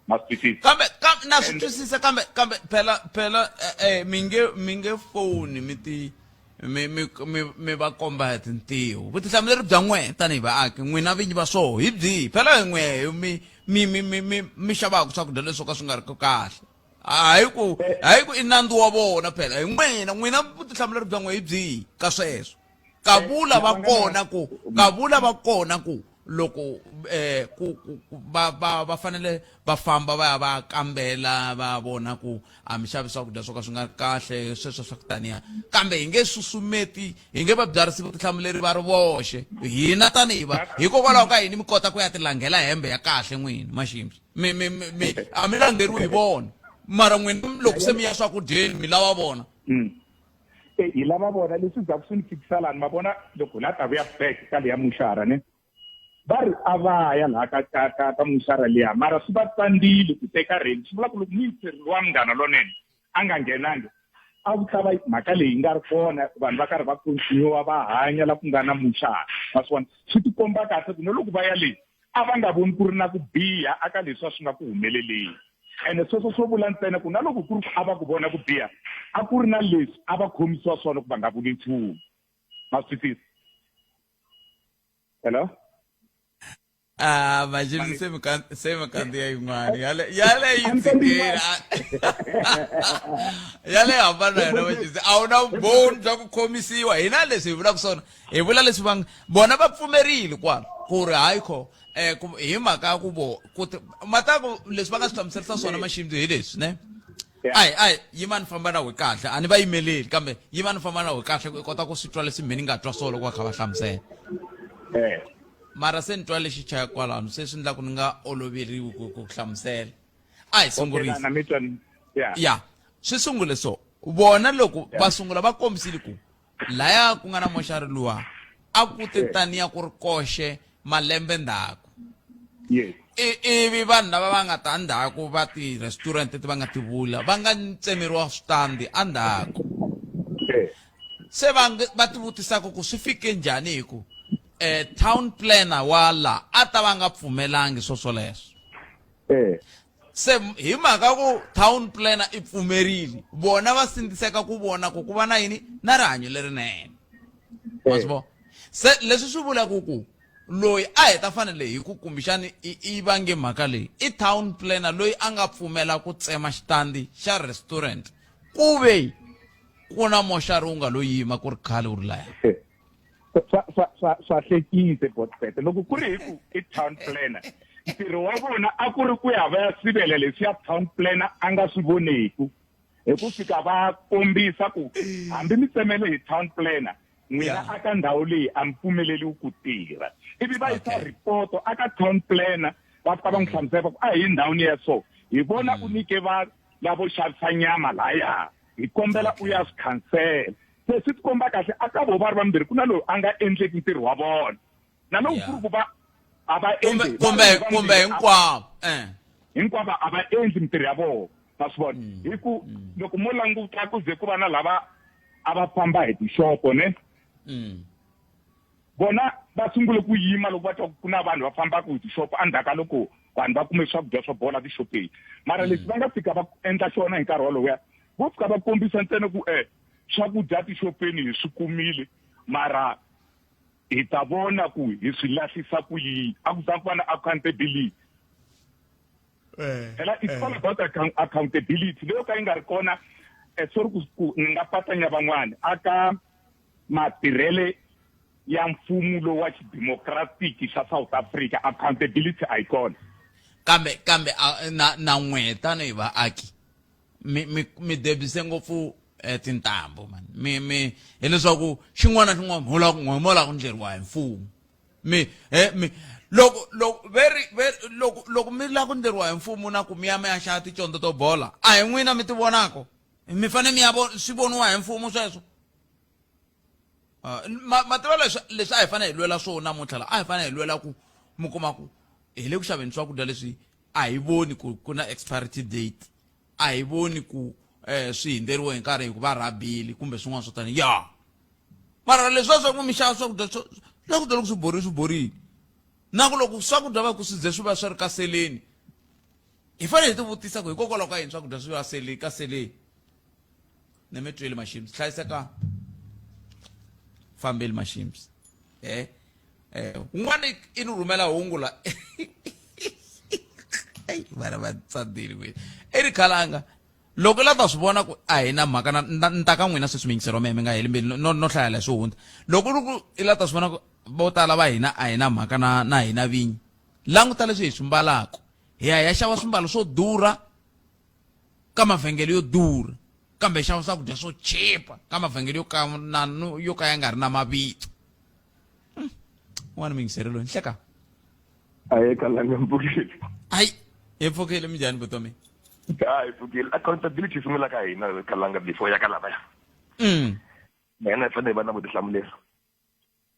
ma swi twisisa kambe kambe na swi twisisa kambe kambe phela phela eh, eh mi nge mi nge foni mi ti mi mi mi mi va komba hi tintiho vutihlamuleri bya n'wina tanihi vaaki n'wina vinyi va swoho hi byihi phela hi n'we mi mi mi mi mi mi xavaka swakudya leswo ka swi nga ri ku kahle hayi ku hayi ku i nandzu wa vona phela hi n'wina n'wina vutihlamuleri bya n'we hi byihi ka sweswo kavula va kona ku kavula va kona ku loko eh ku va va va fanele va famba va ya va kambela va vona ku a mi xavi swakudya swo ka swi nga kahle sweswo swa ku taniya kambe hi nge susumeti hi nge va byarisi vutihlamuleri va ri voxe hina tanihi va hikokwalaho ka yini mi kota ku ya tilangela hembe ya kahle n'wini maximbi mi mi mi a mi langeriwi hi vona mara n'wina loko se mi ya swakudyeni mi lava vona mm. e hi lava vona leswi zaku swi ni fikisa lani ma vona loko la ta vuya back ka leya muxara ne va ri a va ya laha ka ka ka ka muxara liya mara swi va tsandzile ku teka reni swi vula ku loko muyiseri wa munghana lonene a nga nghenangi a ku ta va mhaka leyi nga ri kona vanhu va karhi va continua va hanya la ku nga na muxara va swi vona swi tikomba kahle ku no loko va ya leyi a va nga voni ku ri na ku biha aka leswi a swi nga ku humeleleni ene sweswo swo vula ntsena ku na loko ku ri ku a va ku vona ku biha a ku ri na leswi a va khomisiwa swona ku va nga vuli nchumu ma swi tisa hello Ah, imagine se me canta, se me canta aí, mano. E olha, e olha aí, Siqueira. E olha aí, mano, não vai dizer. Ah, não, bom, jogo comissão. E não é desse, vira com sono. hi vula leswi va vona va pfumerile kwalo ku ri hayi kho um hi mhaka ya ku vo mataku leswi va nga swi hlamuserisa swona maxindu hi leswi ne ayi ayi yimani famba na we kahle a ni va yimeleli kambe yimani famba na we kahle ku i kota ku swi twa leswi mhini nga twa swo loko va kha va hlamusela eh. mara se ni twa lexi chaya kwalano se swi ndlaku ni nga oloveriwi ku ku hlamusela a hi sungurisa ya swi sungule so vona loko va sungula va kombisile ku Laya ku nga na moxari luwa a ku te taniya ku ri koxe malembe ndzhaku ivi vanhu lava va nga ta ndzhaku va ti-restaurant leti va nga ti vula va nga tsemeriwa switandi endzhaku se va va ti vutisaka ku swi fike njhani hi ku um town planner wa la a ta va nga pfumelangi swo swoleswo se hi mhaka ku town planner i pfumerile vona va sindziseka ku vona ku ku va na yini na rihanyo lerinene wa swi vona se leswi swi vulaka ku loyi a hi ta fanele hi ku kumbexani i i vange mhaka leyi i town planner loyi a nga pfumela ku tsema xitandi xa restaurant ku ve ku na moxari wu nga lo yima ku ri khale wu ri laya swa swa swa swa hlekise botbete loko ku ri hi ku i town planner ntirho wa vona a ku ri ku ya va ya sivela leswi ya town planner a nga swi voneku hi ku fika va kombisa ku hambi mi tsemele hi town planner n'wina a ka ndhawu leyi a mi pfumeleliwi ku tirha ivi va yisa ripoto a ka town planner va fika va n'wi hlamusela va ku a hi ndhawini ya so hi vona u mm. nyike va lavo xavisa nyama laya hi kombela u ya swi khansela se swi tikomba kahle a ka vo va ri vambirhi ku na loyi a nga endleki ntirho wa vona na loko ku ri ku va a va endli kumbe kumbe hinkwavo eh. hinkwavo a va endli mintirho ya vona ma swi vona mm. hi ku mm. loko mo languta ku ze ku va na lava a va famba hi tixopo ne mm. bona va sungule ku yima loko va twa ku na vanhu va fambaka hi tixopo endzhaku ka loko vanhu va kume swakudya swa bola tixopeni mara leswi va nga fika va endla xona hi nkarhi wolowo ya vo fika va kombisa ntsena ku um Swakudya tixopeni hi swi kumile mara hi ta vona ku hi swi lahlisa ku yini a ku za ku va na accountability eh, phela it's eh. all about accountability leyo ka yi nga ri kona eh, sorry ku ni nga patanya van'wana aka matirhele ya mfumo lowu wa xidemokratiki xa south africa accountability a yi kona kambe kambe na na n'we tanihi vaaki mi mi mi debise ngopfu eh, tintambu man mi mi hileswaku xin'wana na xin'wana mhola ku n'we mola ku ndleriwa hi mfumo mi he mi loko loko veri veri loko loko mi la ku ndleriwa hi mfumo na ku mi ya mi ya xava ticondzo to bola a hi n'wina mi ti vonako mi fane mi ya vo swi voniwa hi mfumo sweswo ah, ma ma tiva leswi leswi a hi fanele hi lwela swona namuntlha la a hi fanele hi lwela ku mi kuma ku hi le ku xaveni swakudya leswi a hi voni ku ku na expiry date a hi voni ku eh swi hindzeriwe hi nkarhi hikuva rabili kumbe swin'wana swo tani ya mara leswiwa swa ku mi xava swakudya swakudya loko swi borile swi borile na ku loko swakudya va ku swi ze swi va swi ri ka seleni hi fanele hi tivutisa ku hikokwalaho ka yini swakudya swi va sele ka seleni ne mi twile mashims hlayiseka fambeli mashims eh eh un'wana i ni rhumela hungu la eyi vana va tsadile kwini i ri khalanga loko i la ta swi vona ku a hi na mhaka na- na- ni ta ka n'wina se swimiyingiselo meme nga heli mbilu no no hlayela hi swi hundza loko ri ku i la ta swi vona ku vo tala va hina a hi na mhaka na na hina vinyi languta leswi hi swi mbalaka hi ya hi ya xava swimbalo swo durha ka mavhengele yo durha kambe hi xava swakudya swo chipa ka mavhengele yo ka na yo ka ya nga ri na mavito hmm. n'wana mingisere loyi nhleka a yi kalanga mpfukile ayi hi pfukile minjhani vutomi a hi pfukile accountability yi sungula ka hina kalanga before ya ka lavaya mm. na hina hi fanele hi va na vutihlamuleri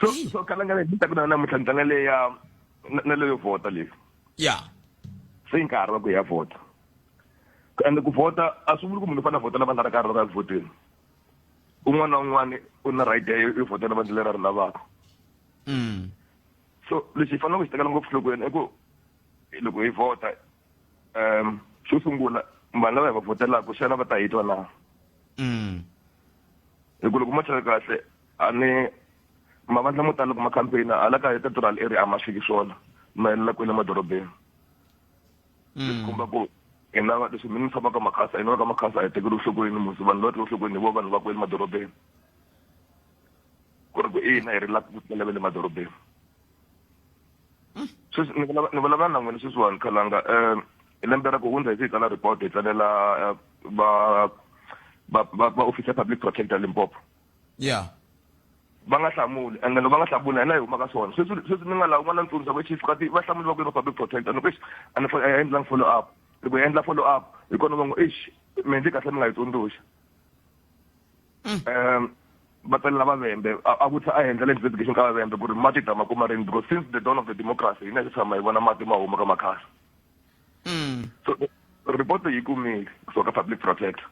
so so kana nga ni ta ku na namuntlha ni tlanga leya na leyo vhota leyi ya se yi nkarhi wa ku ya vhota ende ku vhota a swi vuli ku munhu u fanele a vhotela vandla ra karhi loko a vhoteni un'wana na un'wana u na right yo vhotela vandla leri a ri lavaka mm. so lexi hi faneleke ku xi tekela ngopfu nhlokweni i ku loko hi vhota um xo sungula vanhu lava hi va vhotelaka xana va ta hi twa na mm. hi ku loko mo tlhela kahle a ni mavandla mo tala loko ma campaign hala ka eka rural area a ma fiki swona ma helela kwele madorobeni mm. leswi komba ku hina leswi mi ni tshama ka makhasa hina ka makhasa a hi tekeli nhlokweni musi vanhu lava tekeli nhlokweni hi vo vanhu va kwele madorobeni ku ri ku ina hi ri la ku tela ve le madorobeni sweswi ni vulavula na n'wina sweswiwani khalanga um hi lembe ra ku hundza hi siku la report hi tsalela eh, va va va office ya public protector limpopo yeah va nga hlamuli and loko va nga hlamuli hina hi huma ka swona sweswi sweswi ni nga lavi n'wana ntsundzuxa ku chief kati va hlamuli va ku ri public protector ni ku exi a ni a endlangi follow up loko hi endla follow up hi kona va ngo exi mi endli kahle mi nga yi tsundzuxa um mm. va tsalela vavembe a vutisa a endla le investigation ka vavembe ku ri mati ta ma kuma rini because since the dawn of the democracy hina hi tshama hi vona mati ma huma ka makhasa mm. so report yi kumile kusuka ka public protector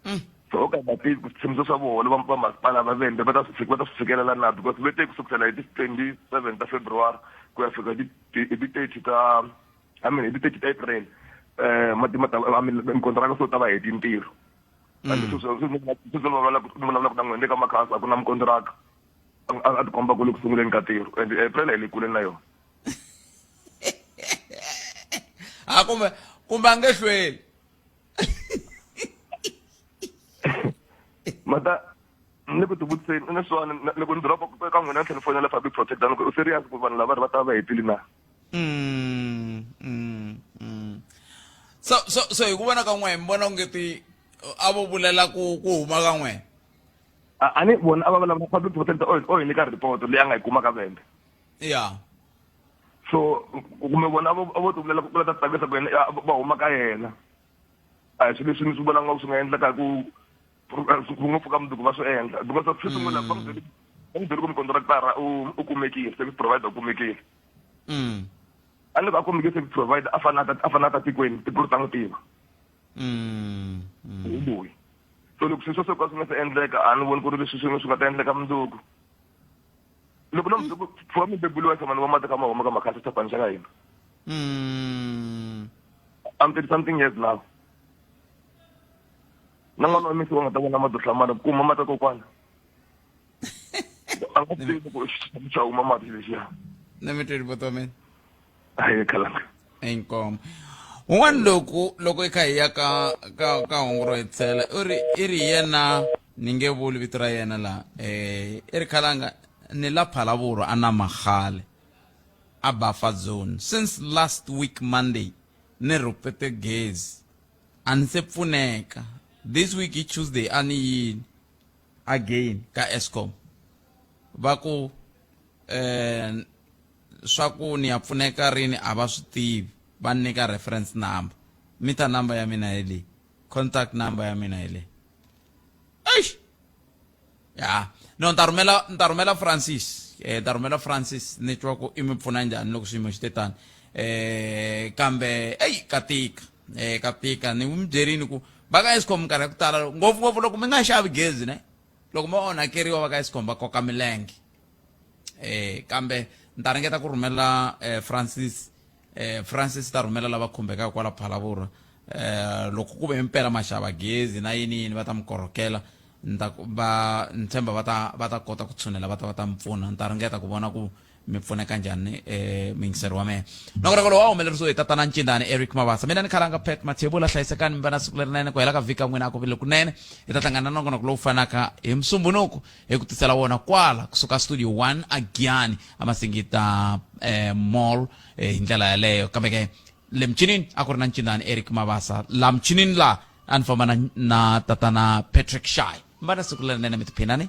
mm. so o ka nga tivi ku switshimiso swa voho va va masipala va vende va ta swi va ta swi fikelela na because ve te ku sukusela hi ti twenty seven ta february ku ya fika hi ti thirty ta i mean hi ti thirty ta april um mati ma ta i mean mikontraka so ta va heti ntirho kambe mm. sweswi vulavulaka na n'wina le ka makhasa a ku na mukontraka a tikomba ku le ku sunguleni ka ntirho and april hi le kule na yona a kumbe kumbe a nge hlweli mata ni ku tivutiseni ni swona loko ni doroba ka n'wina ni tlhela ni fonela public protector ni ku u serious ku vanhu lava ri va ta va hetile na mm, mm, mm. so so so hi ku vona ka n'we mi vona onge ti a vo vulela ku ku huma ka n'we a ni vona a va vulavula public protector o hi nyika report leyi a nga yi kuma ka vembe ya yeah. so kumbe vona vo ti vulela ku la ta tsakisa ku yena va huma ka yena a hi swilo leswi ni swi vona nga swi nga endlaka hi ku ku ngopfu ka mundzuku va swi endla because a swi sungula va n'wi byele va n'wi byele ku mukontraktara u u kumekile service provider u kumekile mm. a ni ku a kumekile service provider a fana a fana ta tikweni tikulu ta n'wi tiva mm, mm. hi loyi so loko sweswo swo ka swi nga se endleka a ni voni ku ri leswi swin'we swi nga ta endleka mundzuku loko no muzukulu pfuka mi bebuliwa samani wa mata ka ma huma ka makhasa xitapani xa ka hina Mm. I'm 30 something years now na n'wana wa misi wa nga ta vona mati hlamana kuma mata kokwana a nga tivi ku xa huma mati lexiya Let me tell you, Botomen. a hi khalanga inkomo un'wana loku loko i kha hi ya ka ka ka hungu ro hetsela u ri i ri yena ni nge vuli vito ra yena laha um i ri khalanga ni la phalavuro a na magale a bafa zone since last week monday ni rhupete gezi a ni se pfuneka this week hi tuesday a ni yini again ka escom va ku um Swa ku ni ya pfuneka rini a va swi tivi, va ni nyika reference number. Meter number ya mina hi leyi, contact number ya mina hi leyi. Eish! Ya. No, ni ta rhumela ni ta rhumela Francis, ni ta rhumela Francis ni twa ku i mi pfuna njhani loko xiyimo xi te tani. Kambe eyi ka tika, ka tika. Ni mi byerile ku va ka Eskom minkarhi ya ku tala ngopfungopfu loko mi nga xavi gezi ne, loko mo onhakeriwa va ka Eskom va koka milenge. eh kambe ni ta ringeta ku rhumela eh, francis eh, francis ta rhumela lava khumbekaka kwala phalavurha eh, loko ku ve mpela maxava gezi na yini yini va ta mi korhokela ni ta ku- va ni tshemba va ta va ta kota ku tshunela va ta va ta mi pfuna ni ta ringeta ku vona ku mi pfuneka njhani eh, muyingiseri wa mehe loko reko lowu a humelerisiwe hi tatana ncindani eric mavasa mina ni khalanga pet mathebula hlayisekani mi va na siku lerinene ku hela ka vhika n'wina a ku vile kunene hi ta hlangana na nongonoko lowu fanaka hi musumbunuku hi ku tisela wona kwala kusuka studio 1 a giyani a masingita eh, mall eh, hi ndlela yaleyo kambe ke le mchinini a ku ri na ncindani eric mabasa la mchinini la a ni famba na, na tatana patrick shy mbana siku lerinene mi tiphinani